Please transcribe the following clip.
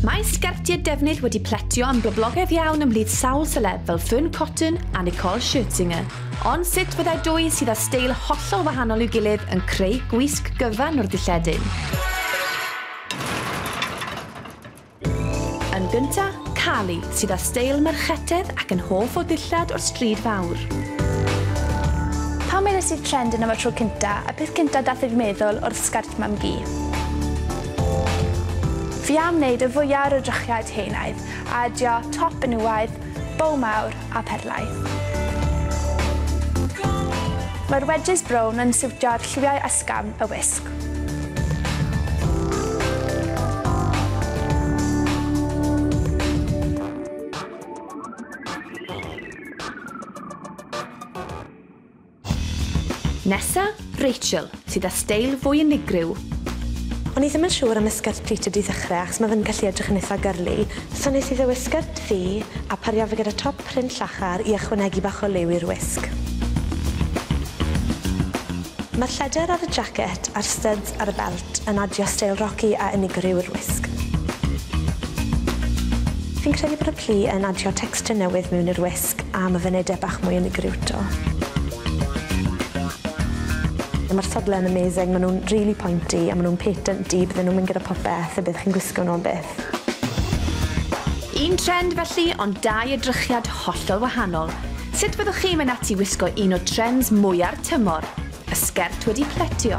Mae sgertiau defnydd wedi pletio yn boblogaidd iawn ymhlith sawl seleb fel Fearne Cotton a Nicole Scherzinger. Ond sut fyddai dwy sydd â steil hollol wahanol i'w gilydd yn creu gwisg gyfan o'r dilledyn? Yn gynta, Carly, sydd â steil merchetedd ac yn hoff o ddillad o'r stryd fawr. Pan weles i'r trend yna am y tro cynta, y peth cynta dath i fy meddwl oedd sgert mam-gu. Fi am wneud y fwya o'r edrychiad heunaidd a adio top benywaidd, bow mawr a perlau. Mae'r wedges brown yn siwtio'r lliwiau ysgafn y wisg. Nesa, Rachel, sydd â steil fwy unigryw. O'n i ddim yn siŵr am y sgert pleated i ddechrau achos mae fe'n gallu edrych yn eitha girly, so nes i ddewis sgert ddu a pario fe gyda top print llachar i ychwanegu bach o liw i'r wisg. Mae'r lleder ar y jacket a'r styds ar y belt yn adio steil rocky a unigryw i'r wisg. Fi'n credu bod y plu yn adio texture newydd mewn i'r wisg. A ma fe'n ede bach mwy unigryw to. Ma'r sodle yn amazing ma' nw'n rili pointy a ma' nw'n patenty bydden nw'n mynd gyda popeth y bydd chi'n gwisgo nw am byth. Un trend felly, ond dau edrychiad hollol wahanol. Sut fyddwch chi'n mynd ati wisgo un o trends mwya'r tymor? Y sgert wedi pletio.